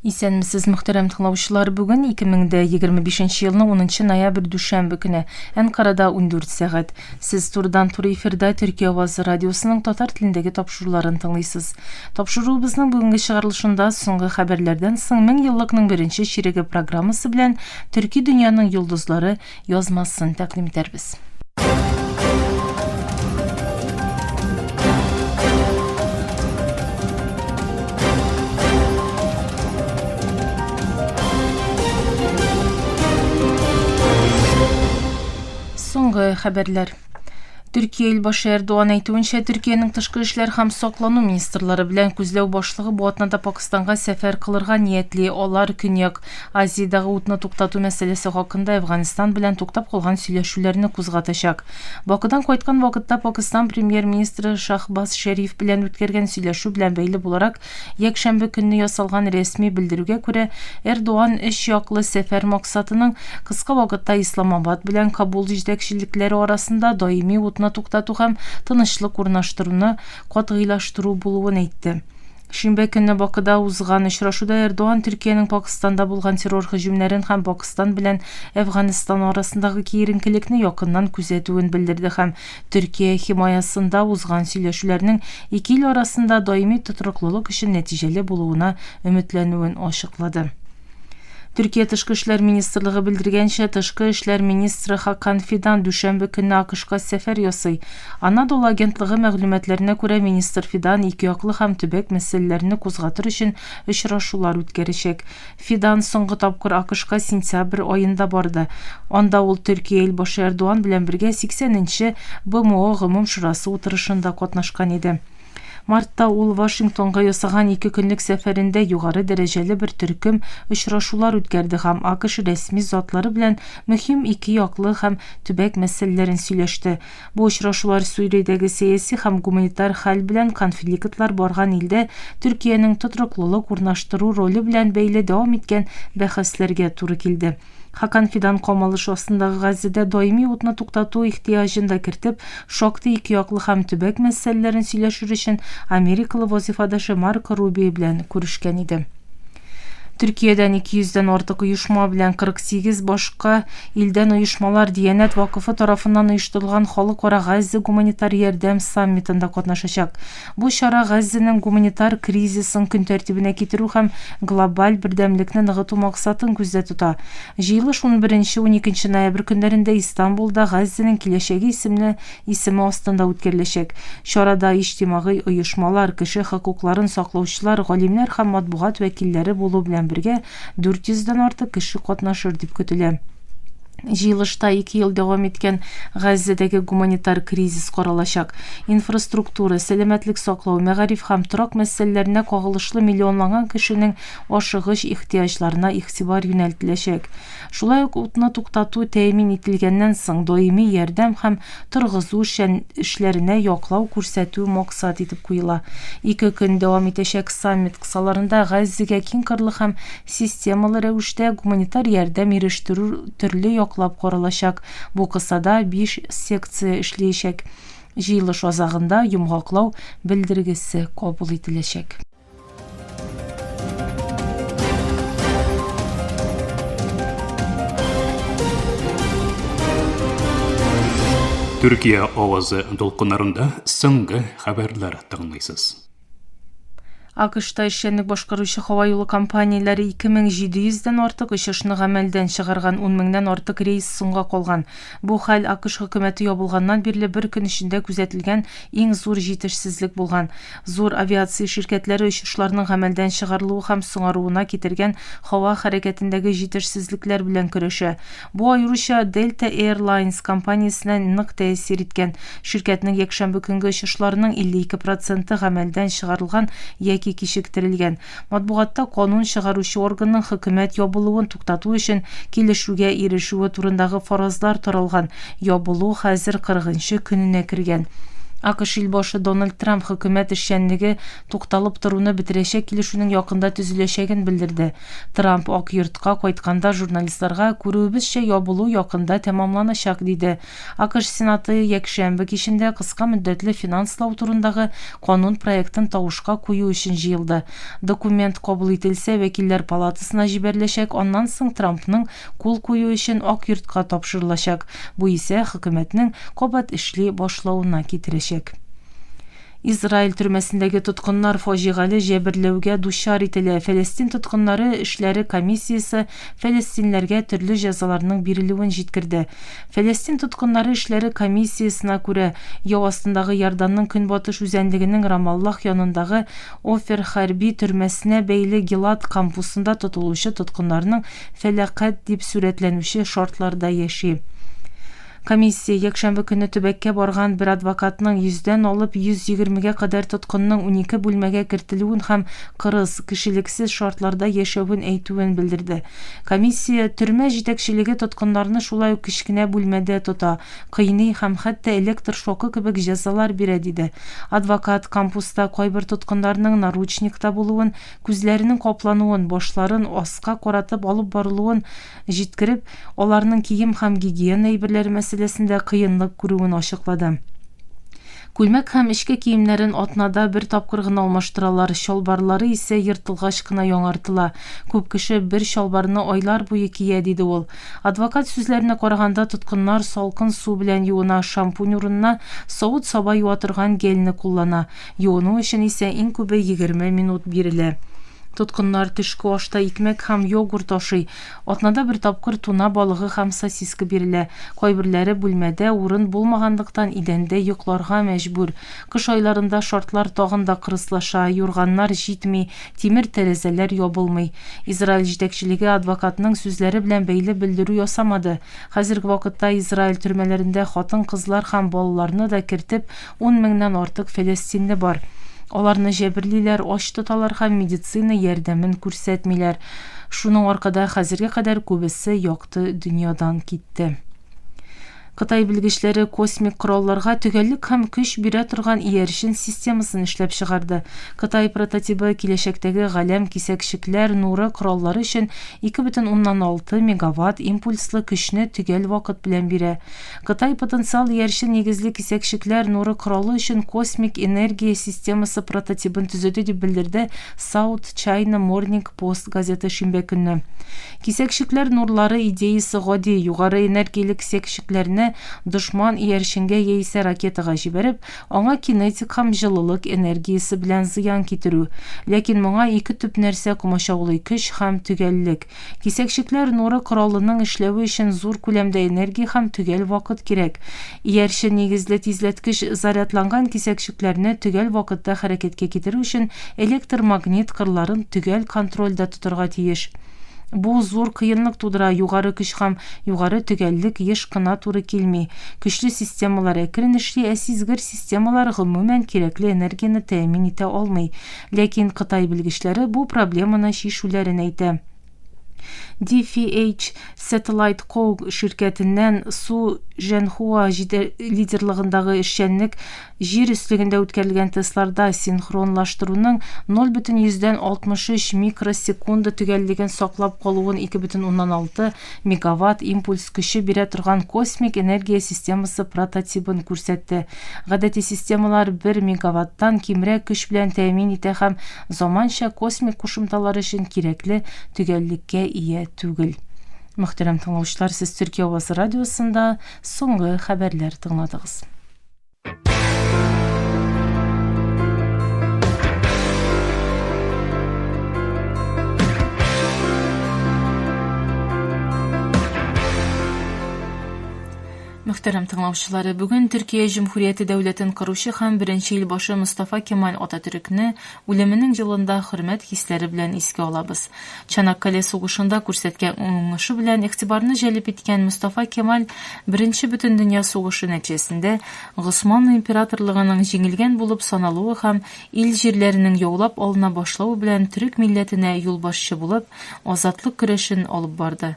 Исәнмесез, мөхтәрәм тыңлаучылар! Бүген 2025 елның 10 ноябрь дүшәмбе көне. Әнкарада 14 сәгать. Сез турыдан-туры эфирда Төркия авазы радиосының татар телендәге тапшыруларын тыңлыйсыз. Тапшыруыбызның бүгенге чыгарылышында соңгы хәбәрләрдән соң мең еллыкның беренче чиреге программасы белән төрки дөньяның йолдызлары, язмасын тәкъдим итәрбез. Соңгы хәбәрләр. Төркия илбашы Эрдуан әйтүенчә, Төркиянең тышкы эшләр һәм саклану министрлары белән күзләү башлыгы бу атнада Пакистанга сәфәр кылырга ниятли. Алар Көньяк Азиядәге утны туктату мәсьәләсе хакында Әфганстан белән туктап калган сөйләшүләрне кузгатачак. Бакыдан кайткан вакытта Пакистан премьер-министры Шахбаз Шәриф белән үткәргән сөйләшү белән бәйле буларак Якшәмбе көнне ясалган рәсми белдерүгә күрә, Эрдоган өч яклы сәфәр максатының кыска вакытта Исламабад белән Кабул җитәкчелекләре арасында даими утны туктату һәм тынычлык урнаштыруны катгыйлаштыру булуын әйтте. Шимбә көнне Бакыда узган очрашуда Эрдоган Төркиянең Пакыстанда булган террор һөҗүмнәрен һәм Пакыстан белән Әфганстан арасындагы киеренкелекне якыннан күзәтүен белдерде һәм Төркия химаясында узган сөйләшүләрнең ике ил арасында даими тотрыклылык өчен нәтиҗәле булуына өметләнүен ачыклады. Төркия тышкы эшләр министрлыгы белдергәнчә, тышкы эшләр министры Хакан Фидан дүшәмбе көнне АКШка сәфәр ясый. Анадолу агентлыгы мәгълүматларына күрә, министр Фидан икеяклы һәм төбәк мәсьәләләрне кузгатыр өчен очрашулар үткәрәчәк. Фидан соңгы тапкыр АКШка сентябрь аенда барды. Анда ул Төркия илбашы Эрдуан белән бергә 80 нче БМО Гомум шурасы утырышында катнашкан иде. Мартта ул Вашингтонга ясаган ике көнлек сәфәрендә югары дәрәҗәле бер төркем очрашулар үткәрде һәм АКШ рәсми затлары белән мөһим ике яклы һәм төбәк мәсьәләләрен сөйләште. Бу очрашулар Сүриядәге сәяси һәм гуманитар хәл белән конфликтлар барган илдә Төркиянең тотрыклылык урнаштыру роле белән бәйле дәвам иткән бәхәсләргә туры килде. Хакан Фидан камалыш астындагы Газзәдә даими утны туктату ихтыяҗын да кертеп, шактый икеяклы һәм төбәк мәсьәләләрен сөйләшер өчен америкалы вазыйфадәше Марко Рубио белән күрешкән иде. Төркиядән 200 дән артык оешма белән 48 башка илдән оешмалар Диянәт вакыфы тарафыннан оештырылган халыкара Газзе гуманитар ярдәм саммитында катнашачак. Бу чара Газзенең гуманитар кризисын көн тәртибенә китерү һәм глобаль бердәмлекне ныгыту максатын күздә тота. Җыелыш 11-12 ноябрь көннәрендә Истанбулда Газзенең киләчәге исемле исеме астында үткәреләчәк. Чарада иҗтимагый оешмалар, кеше хокукларын саклаучылар, галимнәр һәм матбугат вәкилләре булу белән бергә 400 дән артык кеше катнашыр дип көтелә. Җыелышта ике ел дәвам иткән Газзәдәге гуманитар кризис каралачак. Инфраструктура, сәламәтлек саклау, мәгариф һәм торак мәсьәләләренә кагылышлы миллионлаган кешенең ашыгыч ихтыяҗларына игътибар юнәлтеләчәк. Шулай ук утны туктату тәэмин ителгәннән соң даими ярдәм һәм торгызу эшләренә яклау күрсәтү максат итеп куела. Ике көн дәвам итәчәк саммит кысаларында Газзигә киң кырлы һәм системалы рәвештә гуманитар ярдәм ирештерү төрле яклап каралачак, бу кысада биш секция эшлиячәк. Җыелыш азагында йомгаклау белдергесе кабул ителәчәк. Төркия авазы дулкыннарында соңгы хәбәрләр тыңлыйсыз. АКШта эшчәнлек башкаручы һава юлы компанияләре 2700 дән артык очышны гамәлдән чыгарган, 10 меңнән артык рейс соңга калган. Бу хәл АКШ хөкүмәте ябылганнан бирле бер көн эчендә күзәтелгән иң зур җитешсезлек булган. Зур авиация ширкәтләре очышларның гамәлдән чыгарылуы һәм соңаруына китергән һава хәрәкәтендәге җитешсезлекләр белән көрәшә. Бу аеруча Delta Air Lines компаниясенә нык тәэсир иткән. Ширкәтнең якшәмбе көнге очышларының 52 проценты гамәлдән чыгарылган яки кичектерелгән. Матбугатта канун чыгаручы органның хөкүмәт ябылуын туктату өчен килешүгә ирешүе турындагы фаразлар таралган, ябылу хәзер кырыгынчы көненә кергән. АКШ илбашы Дональд Трамп хөкүмәт эшчәнлеге тукталып торуны бетерәчәк килешүнең якында төзеләчәген белдерде. Трамп Ак йортка кайтканда журналистларга, күрүебезчә, ябылу якында тәмамланачак, диде. АКШ Сенаты якшәмбе кичендә кыска мөддәтле финанслау турындагы канун проектын тавышка кую өчен җыелды. Документ кабул ителсә, Вәкилләр палатасына җибәреләчәк, аннан соң Трампның кул куюы өчен Ак йортка тапшырылачак, бу исә хөкүмәтнең кабат эшли башлавына китерәчәк. Израиль төрмәсендәге тоткыннар фаҗигале җәберләүгә дучар ителә, Фәләстин тоткыннары эшләре комиссиясе фәләстинләргә төрле җәзаларның бирелүен җиткерде. Фәләстин тоткыннары эшләре комиссиясенә күрә, яу астындагы Иорданның көнбатыш үзәнлегенең Рамаллах янындагы Офер хәрби төрмәсенә бәйле Гилад кампусында тотылучы тоткыннарның фәләкать дип сурәтләнүче шартларда яши. Комиссия якшәмбе көнне төбәккә барган бер адвокатның йөздән алып йөз егермегә кадәр тоткынның унике бүлмәгә кертелүен һәм кырыс, кешелексез шартларда яшәвен әйтүен белдерде. Комиссия, Төрмә җитәкчелеге тоткыннарны шулай ук кечкенә бүлмәдә тота, кыйный һәм хәтта электр шокы кебек җәзалар бирә, диде. Адвокат, кампуста кайбер тоткыннарның наручникта булуын, күзләренең каплануын, башларын аска каратып алып барылуын, җиткереп, аларның кием һәм гигиена әйберләре мәсьәләсендә кыенлык күрүен ачыклады. Күлмәк һәм эчке киемнәрен атнада бер тапкыр гына алмаштыралар, чалбарлары исә ертылгач кына яңартыла. Күп кеше бер чалбарны айлар буе кия, диде ул. Адвокат сүзләренә караганда, тоткыннар салкын су белән юына, шампунь урынына савыт-саба юа торган гельне куллана. Юыну өчен исә иң күбе егерме минут бирелә. Тоткыннар төшке ашта икмәк һәм йогурт ашый. Атнада бер тапкыр туна балыгы һәм сосиска бирелә. Кайберләре бүлмәдә урын булмаганлыктан идәндә йокларга мәҗбүр. Кыш айларында шартлар тагын да кырыслаша, юрганнар җитми, тимер тәрәзәләр ябылмый. Израиль җитәкчелеге адвокатның сүзләре белән бәйле белдерү ясамады. Хәзерге вакытта Израиль төрмәләрендә хатын-кызлар һәм балаларны да кертеп, Ун меңнән артык фәләстинле бар. Аларны җәберлиләр, ач тоталар һәм медицина ярдәмен күрсәтмиләр. Шуның аркада хәзергә кадәр күбесе якты дөньядан китте. Кытай белгечләре космик коралларга төгәллек һәм көч бирә торган иярчен системасын эшләп чыгарды. Кытай прототибы киләчәктәге галәм кисәкчекләр нуры кораллары өчен 2,6 мегаватт импульслы көчне төгәл вакыт белән бирә. Кытай потенциаль иярчен нигезле кисәкчекләр нуры коралы өчен космик энергия системасы прототибын төзеде, дип белдерде South China Morning Post газеты шимбә көнне. Кисәкчекләр нурлары идеясе гади, югары энергияле кисәкчекләрне дошман иярченгә яисә ракетага җибәреп, Аңа кинетик һәм җылылык энергиясе белән зыян китерү. Ләкин моңа ике төп нәрсә комачаулый, көч һәм төгәллек. Кисәкчекләр нуры коралының эшләве өчен зур күләмдә энергия һәм төгәл вакыт кирәк. Иярче нигезле тизләткеч зарядланган кисәкчекләрне төгәл вакытта хәрәкәткә китерү өчен электромагнит кырларын төгәл контрольдә тотарга тиеш. Бу зур кыенлык тудыра, югары көч һәм югары төгәллек еш кына туры килми. Көчле системалар әкрен эшли, ә сизгер системалар гомумән кирәкле энергияне тәэмин итә алмый. Ләкин Кытай белгечләре бу проблеманы чишүләрен әйтә. DFH Satellite Co. ширкәтеннән Су Жэнхуа лидерлыгындагы эшчәнлек Җир өслегендә үткәрелгән тестларда синхронлаштыруның 0,63 микросекунда төгәллеген саклап калуын 2,6 мегаватт импульс көче бирә торган космик энергия системасы прототибын күрсәтте. Гадәти системалар 1 мегаваттан кимрәк көч белән тәэмин итә һәм заманча космик кушымталар өчен кирәкле төгәллеккә ия түгел. Мөхтәрәм тыңлаучылар, сез Төркия авазы радиосында соңгы хәбәрләр тыңладыгыз. Мөхтәрәм тыңлаучылары, бүген Төркия Җөмһүрияте дәүләтен коручы һәм беренче ил башы Мустафа Кемаль Ататүрекне Үлеменең җылында хөрмәт хисләре белән искә алабыз. Чанаккале сугышында күрсәткән уңышы белән игътибарны җәлеп иткән Мостафа Кемаль Беренче Бөтендөнья сугышы нәтиҗәсендә Госман императорлыгының җиңелгән булып саналуы һәм ил җирләренең яулап алына башлавы белән төрек милләтенә юлбашчы булып азатлык көрәшен алып барды.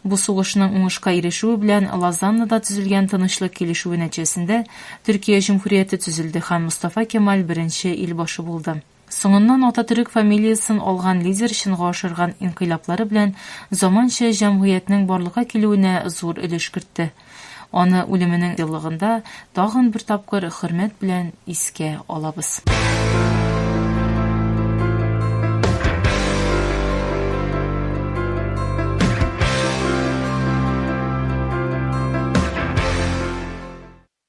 Бу сугышның уңышка ирешүе белән Лозаннада төзелгән тынычлык килешүе нәтиҗәсендә Төркия җөмһүрияте төзелде һәм Мостафа Кемаль беренче ил башы булды. Соңыннан Ататөрек фамилиясен алган лидер чынга ашырган инкыйлаблары белән заманча җәмгыятьнең барлыкка килүенә зур өлеш кертте. Аны үлеменең еллыгында тагын бер тапкыр хөрмәт белән искә алабыз.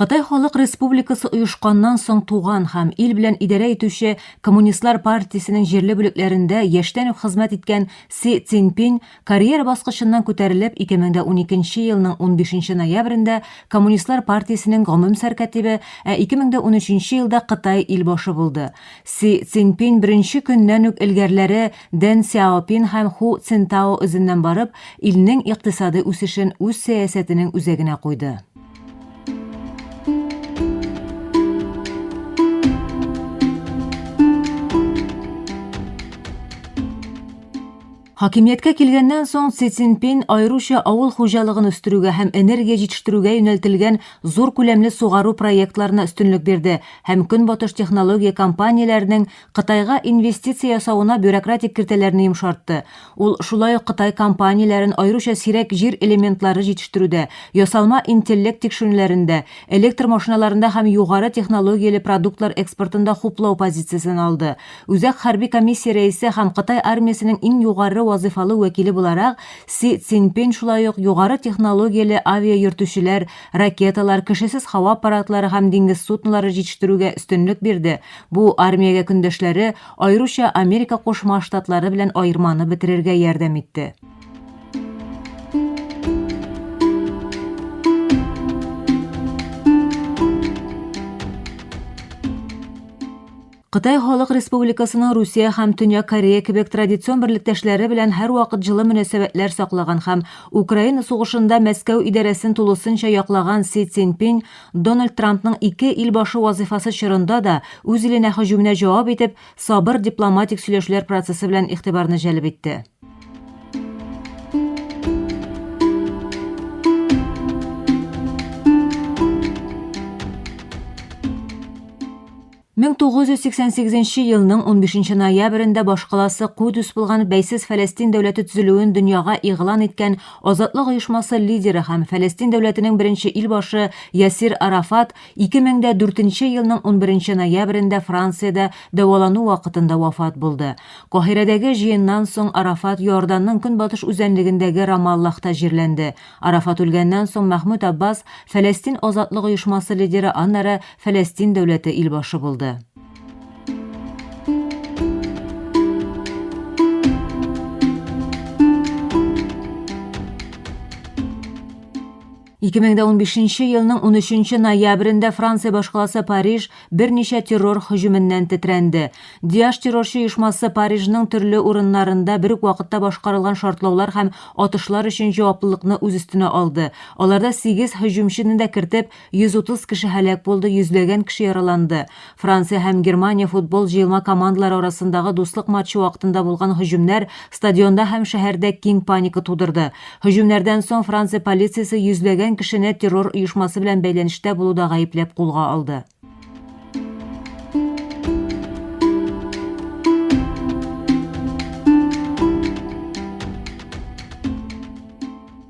Кытай Халык Республикасы оешканнан соң туган һәм ил белән идарә итүче Коммунистлар партиясенең җирле бүлекләрендә яшьтән үк хезмәт иткән Си Цзиньпин карьера баскычыннан күтәрелеп 2012 елның 15 ноябрендә Коммунистлар партиясенең гомум сәркатибе, ә 2013 елда Кытай илбашы булды. Си Цзиньпин беренче көннән үк элгәрләре Дэн Сяопин һәм Ху Цинтао эзеннән барып, илнең икътисадый үсешен үз сәясәтенең үзәгенә куйды. Хакимияткә килгәннән соң Си Цзиньпин аеруча авыл хуҗалыгын үстерүгә һәм энергия җитештерүгә юнәлтелгән зур күләмле сугару проектларына өстенлек бирде һәм Көнбатыш технология компанияләренең Кытайга инвестиция ясавына бюрократик киртәләрне йомшартты. Ул шулай ук Кытай компанияләрен аеруча сирәк җир элементлары җитештерүдә, ясалма интеллект тикшерүләрендә, электр машиналарында һәм югары технологияле продуктлар экспортында хуплау позициясен алды. Үзәк хәрби комиссия рәисе һәм Кытай армиясенең иң югары вазыйфалы вәкиле буларак Си Цзиньпин шулай ук югары технологияле авиайөртүчеләр, ракеталар, кешесез һава аппаратлары һәм диңгез суднолары җитештерүгә өстенлек бирде, Бу армиягә көндәшләре, аеруча Америка Кушма Штатлары белән аерманы бетерергә ярдәм итте. Кытай Халык Республикасының Русия һәм Төньяк Корея кебек традицион берлектәшләре белән һәрвакыт җылы мөнәсәбәтләр саклаган һәм Украина сугышында Мәскәү идарәсен тулысынча яклаган Си Цзиньпин Дональд Трампның ике ил башы вазыйфасы чорында да үз иленә һөҗүменә җавап итеп, сабыр дипломатик сөйләшүләр процессы белән игътибарны җәлеп итте. 1988 нче елның 15 нче ноябрендә башкаласы Кудус булган бәйсез Фәләстин дәүләте төзелүен дөньяга игълан иткән Азатлык оешмасы лидеры һәм Фәләстин дәүләтенең беренче илбашы Ясир Арафат 2004 нче елның 11 нче ноябрендә Франциядә дәвалану вакытында вафат булды. Каһирәдәге җыеннан соң Арафат Иорданның көнбатыш үзәнлегендәге Рамаллахта җирләнде. Арафат үлгәннән соң Мәхмүд Аббас Фәләстин азатлык оешмасы лидеры, аннары Фәләстин дәүләте илбашы булды. Ике мең дә унбишенче елның унөченче ноябрендә Франция башкаласы Париж берничә террор һөҗүменнән тетрәнде. Диаш террорчы оешмасы Парижның төрле урыннарында бер үк вакытта башкарылган шартлаулар һәм атышлар өчен җаваплылыкны үз өстенә алды. Аларда сигез һөҗүмчене дә кертеп, 130 кеше һәлак булды, йөзләгән кеше яраланды. Франция һәм Германия футбол җыелма командалары арасындагы дуслык матчы вакытында булган һөҗүмнәр стадионда һәм шәһәрдә киң паника тудырды. Һөҗүмнәрдән соң Франция полициясе йөзләгән кешене террор оешмасы белән бәйләнештә булуда гаепләп кулга алды.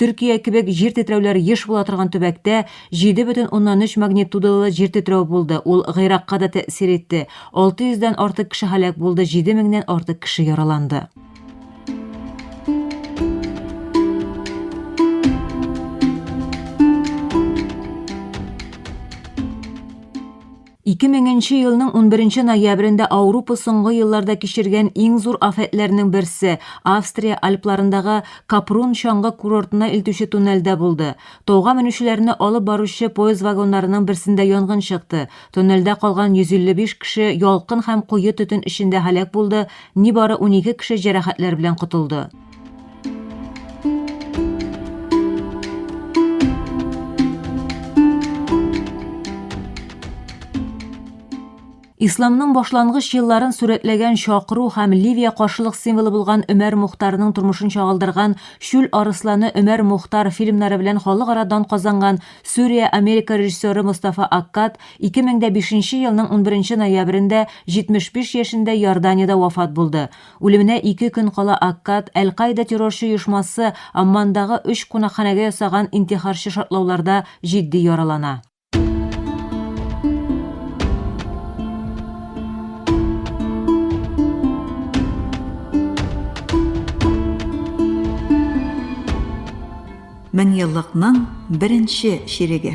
Төркия кебек җир тетрәүләр еш була торган төбәктә 7,3 магнитудалы җир тетрәү булды, ул Гыйракка да тәэсир итте. 600 дән артык кеше һәлак булды, 7 меңнән артык кеше яраланды. Ике меңенче елның унберенче ноябрендә Аурупа соңгы елларда кичергән иң зур афәтләрнең берсе Австрия Альпларындагы Капрун чаңгы курортына илтүче туннельдә булды. Тауга менүчеләрне алып баручы поезд вагоннарының берсендә янгын чыкты. Тоннельдә калган 155 кеше ялкын һәм куе төтен эчендә һәлак булды, нибары унике кеше җәрәхәтләр белән котылды. Исламның башлангыч елларын сурәтләгән чакыру һәм Ливия каршылык символы булган Өмәр Мухтарның тормышын чагылдырган Чүл арысланы Өмәр Мухтар фильмнары белән халыкара дан казанган Сүрия Америка режиссеры Мустафа Аккад 2005 елның 11 ноябрендә 75 яшендә Иорданиядә вафат булды. Үлеменә ике көн кала Аккад, Әл-Каида террорчы оешмасы, Аммандагы өч кунакханәгә ясаган интихарчы шартлауларда җитди яралана. Меңьеллыкның беренче чиреге.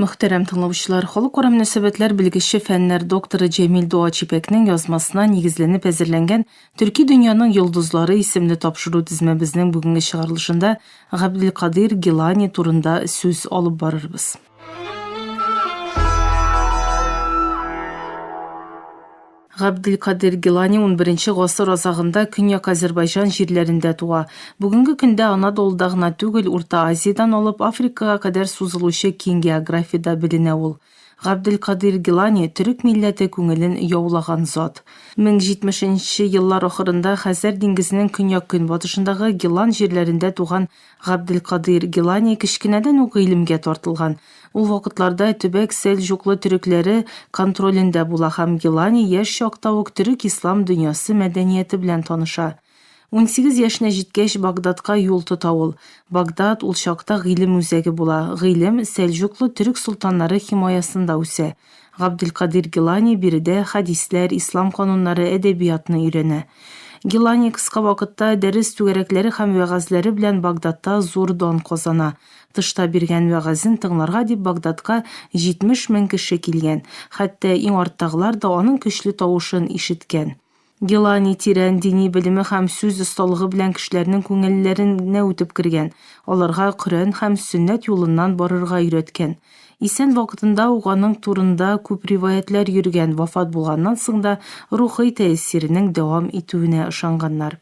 Мөхтәрәм тыңлаучылар, халыкара мөнәсәбәтләр белгече, фәннәр докторы Җәмил Дуачипәкнең язмасына нигезләнеп әзерләнгән Төрки дөньяның йолдызлары исемле тапшыру тезмәбезнең бүгенге чыгарылышында Габделкадыйр Гилани турында сүз алып барырбыз. Габделкадир Гилани унберенче гасыр азагында Көньяк Азәрбайҗан җирләрендә туа. Бүгенге көндә Анадолуда гына түгел, Урта Азиядән алып Африкага кадәр сузылучы киң географиядә беленә ул. Габделкадир Гилани, төрек милләте күңелен яулаган зат. Мең җитмешенче еллар ахырында Хәзәр диңгезенең көньяк-көнбатышындагы Гилан җирләрендә туган Габделкадыйр Гелани кечкенәдән үк гыйлемгә тартылган. Ул вакытларда төбәк сәлҗуклы төрекләре контролендә була һәм Гелани яшь чакта ук төрек ислам дөньясы мәдәнияте белән таныша. Унсигез яшенә җиткәч, Багдадка юл тота ул. Багдад ул чакта гыйлем үзәге була, гыйлем сәлҗуклы төрек солтаннары химаясында үсә. Габделкадир Гелани биредә хәдисләр, ислам кануннары, әдәбиятны өйрәнә. Гелани кыска вакытта дәрес түгәрәкләре һәм вәгазьләре белән Багдадта зур дан казана. Тышта биргән вәгазен тыңларга дип Багдадка 70 мең кеше килгән, хәтта иң арттагылар да аның көчле тавышын ишеткән. Гилани тирән дини белеме һәм сүз осталыгы белән кешеләрнең күңелләренә үтеп кергән, аларга Коръән һәм сөннәт юлыннан барырга өйрәткән. Исән вакытында ук аның турында күп риваятьләр йөргән, вафат булганнан соң да рухый тәэсиренең дәвам итүенә ышанганнар.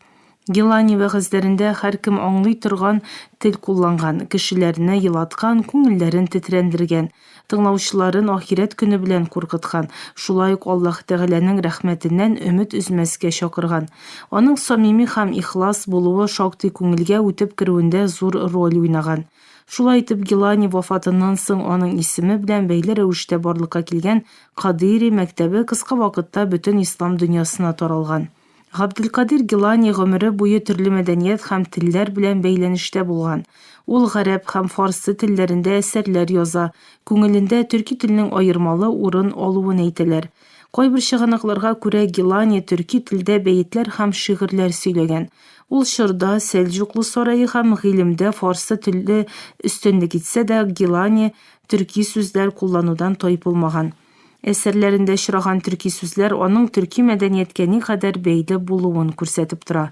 Гелани вәгазьләрендә һәркем аңлый торган тел кулланган, кешеләрне елаткан, күңелләрен тетрәндергән, тыңлаучыларын ахирәт көне белән куркыткан, шулай ук Аллаһ Тәгаләнең рәхмәтеннән өмет өзмәскә чакырган. Аның самими һәм ихлас булуы шактый күңелгә үтеп керүендә зур роль уйнаган. Шулай итеп, Гелани вафатыннан соң аның исеме белән бәйле рәвештә барлыкка килгән Кадыйри мәктәбе кыска вакытта бөтен ислам дөньясына таралган. Габделкадир Гелани гомере буе төрле мәдәният һәм телләр белән бәйләнештә булган. Ул гарәп һәм фарсы телләрендә әсәрләр яза, күңелендә төрки телнең аермалы урын алуын әйтәләр. Кайбер чыганакларга күрә Гелани төрки телдә бәетләр һәм шигырьләр сөйләгән. Ул чорда Сәлҗуклы сарае һәм гыйлемдә фарсы теле өстенлек итсә дә, Гелани төрки сүзләр кулланудан тайпылмаган. Әсәрләрендә очраган төрки сүзләр аның төрки мәдәнияткә никадәр бәйле булуын күрсәтеп тора.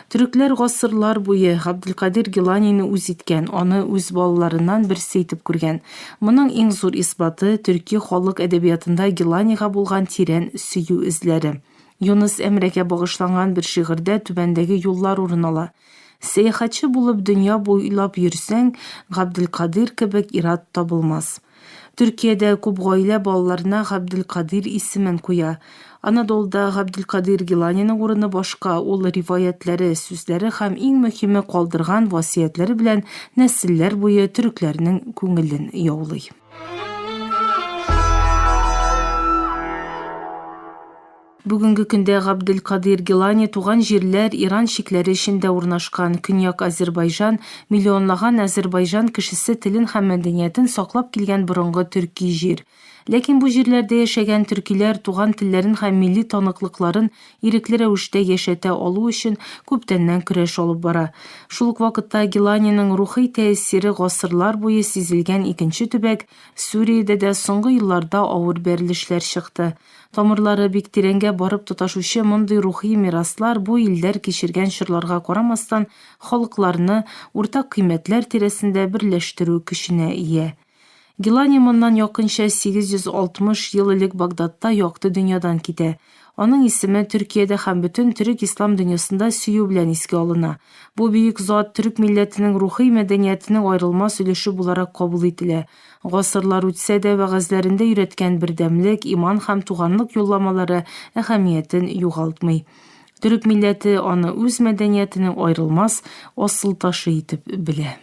Төрекләр гасырлар буе Габделкадир Геланине үз иткән, аны үз балаларыннан берсе итеп күргән. Моның иң зур исбаты, төрки халык әдәбиятында Геланига булган тирән сөю эзләре. Юныс Әмрәгә багышланган бер шигырьдә түбәндәге юллар урын ала. Сәяхәтче булып дөнья буйлап йөрсәң, Габделкадир кебек ир-ат табылмас. Төркиядә күп гаилә балаларына Габделкадир исемен куя. Анадолуда Габделкадир Гиланиның урыны башка, ул риваятьләре, сүзләре һәм иң мөһиме калдырган васыятьләре белән нәселләр буе төрекләрнең күңелен яулый. Бүгенге көндә Габделкадыйр Гилани туган җирләр Иран чикләре эчендә урнашкан, Көньяк Азербайҗан, миллионлаган Азербайҗан кешесе телен һәм мәдәниятен саклап килгән борынгы төрки җир. Ләкин бу җирләрдә яшәгән төркиләр туган телләрен һәм милли таныклыкларын ирекле рәвештә яшәтә алу өчен күптәннән көрәш алып бара. Шул ук вакытта Гиланиның рухый тәэсире гасырлар буе сизелгән икенче төбәк Сүриядә дә соңгы елларда авыр бәрелешләр чыкты. Тамырлары бик тирәнгә барып тоташучы мондый рухи мираслар бу илләр кичергән чорларга карамастан халыкларны уртак кыйммәтләр тирәсендә берләштерү көченә ия. Гилани моннан якынча 860 ел элек Багдадта якты дөньядан китә. Аның исеме Төркиядә һәм бөтен төрек-ислам дөньясында сөю белән искә алына. Бу бөек зат төрек милләтенең рухи мәдәниятенең аерылмас өлеше буларак кабул ителә. Гасырлар үтсә дә, вәгазьләрендә өйрәткән бердәмлек, иман һәм туганлык юлламалары әһәмиятен югалтмый. Төрек милләте аны үз мәдәниятенең аерылмас асыл ташы итеп белә.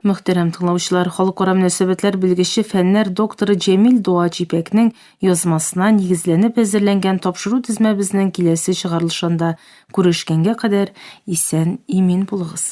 Мөхтәрәм тыңлаучылар, халыкара мөнәсәбәтләр белгече, фәннәр докторы Җәмил Дуач Ипәкнең язмасына нигезләнеп әзерләнгән тапшыру тезмәбезнең киләсе чыгарылышында күрешкәнгә кадәр исән-имин булыгыз.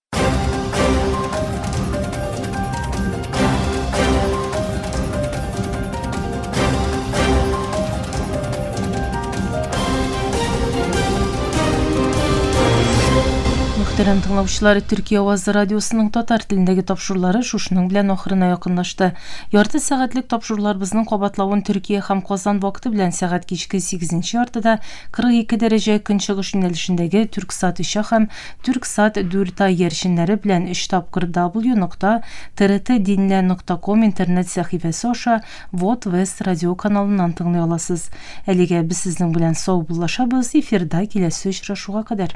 Мөхтәрәм тыңлаучылар, Төркия авазы радиосының татар телендәге тапшырулары шушының белән ахырына якынлашты. Ярты сәгатьлек тапшыруларыбызның кабатлавын Төркия һәм Казан вакыты белән сәгать кичке 8 яртыда 42 дәрәҗә көнчыгыш юнәлешендәге Төрксат ишә һәм Тюрксат Дюртай ярченнәре белән өч тапкыр дабл-ю нокта трт динле нокта ком интернет сәхифәсе аша Вот Вест радиоканалыннан тыңлый аласыз. Әлегә без сезнең белән саубуллашабыз, эфирда киләсе очрашуга кадәр.